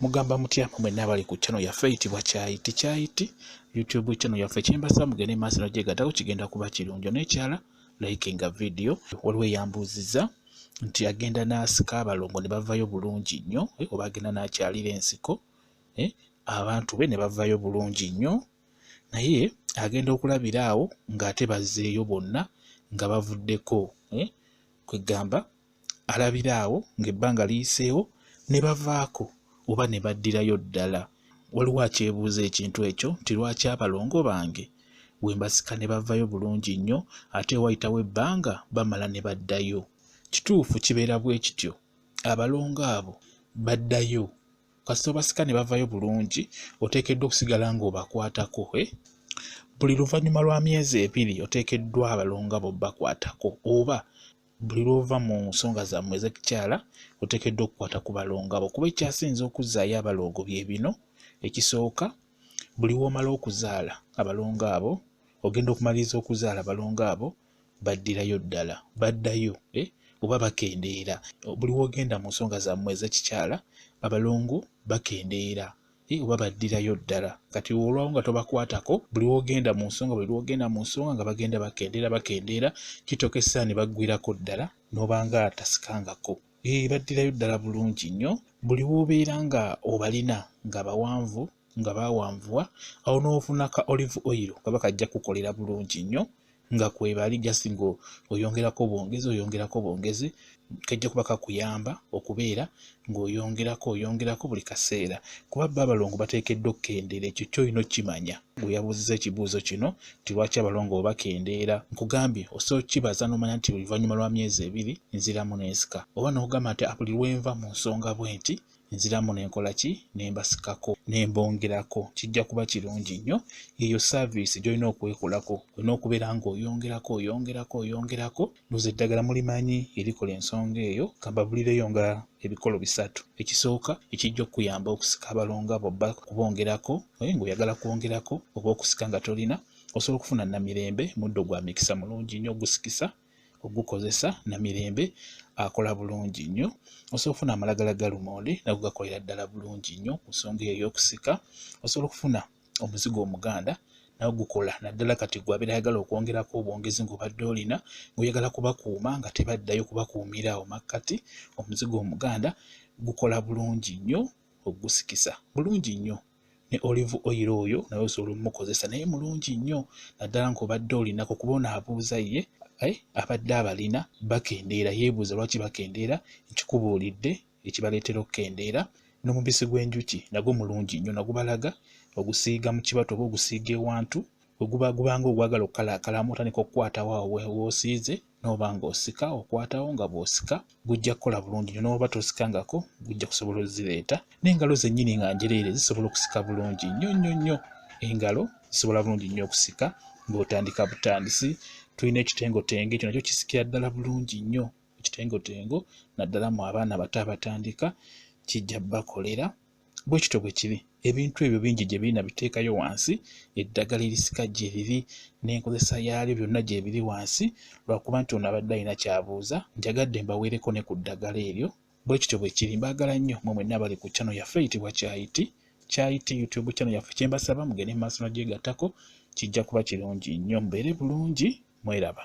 mugamba mutya mwenna abali ku channel yaffe eyitibwa kyayiti kyayiti youtube channel yaffe kyembasa mugende maaso nojegatako kigenda kuba kirungi nekyala like nga video waliwo eyambuuziza nti agenda n'asika abalongo ne bavayo bulungi nnyo eh, oba agenda n'akyalira ensiko eh, abantu be ne bavayo bulungi nnyo naye agenda okulabira awo ng'ate bazzeeyo bonna nga bavuddeko eh, kwegamba alabira awo ng'ebbanga liyiseewo ne bavaako oba ne baddirayo ddala waliwo akyebuuza ekintu ekyo nti lwaki abalongo bange we mbasika ne bavayo bulungi nnyo ate wayitawo ebbanga bamala ne baddayo kituufu kibeera bwe kityo abalongo abo baddayo kasita obasika ne bavayo bulungi oteekeddwa okusigala ng'obakwatako eh? buli luvannyuma lwa myezi ebiri oteekeddwa abalongo abo bakwatako oba buli lwova mu nsonga zammwe ezekikyala otekeddwa okukwata ku balongo abo kuba ekyasinza okuzzaayo abaloogo bye bino ekisooka buli womala okuzaala abalongo abo ogenda okumaliriza okuzaala abalongo abo baddirayo ddala baddayo eh? oba bakendeera buli wogenda mu nsonga zammwe ezekikyala abalongo bakendeera eh, oba baddirayo ddala kati olwawo nga tobakwatako buli wogenda mu nsonga buli lwogenda mu nsonga nga bagenda bakendeera bakendeera kitokesa ne baggwirako ddala n'obanga tasikangako eh, baddirayo ddala bulungi nnyo buli woobeera nga obalina nga bawanvu nga bawanvuwa awo n'ofuna ka olive oil kaba kajja kukolera bulungi nnyo nga kwebali just ngo oyongerako bwongezi oyongerako bwongezi kajja kuba kakuyamba okubeera ng'oyongerako oyongerako buli kaseera kuba bba abalongo bateekeddwa okukendeera ekyo kyolina okukimanya gwe yabuuziza ekibuuzo kino nti lwaki abalongo obakendeera nkugambye osobola okukibaza n'omanya nti oluvannyuma lwa myezi ebiri nziramu n'ensika oba n'okugamba nti buli lwenva mu nsonga bwe nti nziramu nenkola ki nembasikako nembongerako kijja kuba kirungi nnyo eyo saaviisi gyolina okwekolako olina okubeera nga oyongerako oyongerako oyongerako noza eddagala mulimanyi erikola ensonga eyo kambabulireyo nga ebikolo bisatu ekisooka ekijja okukuyamba okusika abalonga bobba kubongerako oye ngaoyagala kwongerako oba okusika nga tolina osobola okufuna namirembe muddo gwa mikisa mulungi nnyo ogusikisa ogukozesa na mirembe akola bulungi nnyo osobola okufuna amalagala ga lumonde nago gakolera ddala bulungi nnyo ku nsonga eyo ey'okusika osobola okufuna omuzigo omuganda nawe gukola naddala kati gwe abeera ayagala okwongerako obwongezi ng'obadde olina ng'oyagala kubakuuma nga tebaddayo kubakuumira awo makkati omuzigo omuganda gukola bulungi nnyo okugusikisa bulungi nnyo ne olive oil oyo naye osobola omukozesa naye mulungi nnyo naddala ng'obadde olinako kuba ono abuuza ye eh, abadde abalina bakendeera yeebuuza lwaki bakendeera nkikubuulidde ekibaleetera okukendeera n'omubisi gw'enjuki nagwo mulungi nnyo nagubalaga ogusiiga mu kibatu oba ogusiiga ewantu weguba gubanga ogwagala okukalaakalamu otandika okukwatawo awo woosiize n'oba ng'osika okwatawo nga bw'osika gujja kukola bulungi nyo n'oba tosikangako gujja kusobola ozireeta n'engalo zennyini nga njereere zisobola okusika bulungi nnyo nnyo nnyo engalo zisobola bulungi nnyo okusika ng'otandika butandisi tulina ekitengotenge ekyo nakyo kisikira ddala bulungi nnyo ekitengotengo naddala mu abaana abato abatandika kijja bakolera bwe kityo bwe kiri ebintu ebyo bingi gye birina biteekayo wansi eddagala erisika gye riri n'enkozesa yaalyo byonna gye biri wansi lwakuba nti ono abadde alina kyabuuza njagadde mbaweereko ne ku ddagala eryo bwe kityo bwe kiri mbaagala nnyo mwe mwenna abali ku kyano yaffe eyitibwa kyayiti kyayiti youtube kyano yaffe kye mbasaba mugende mu maaso nagyegattako kijja kuba kirungi nnyo mubeere bulungi mweraba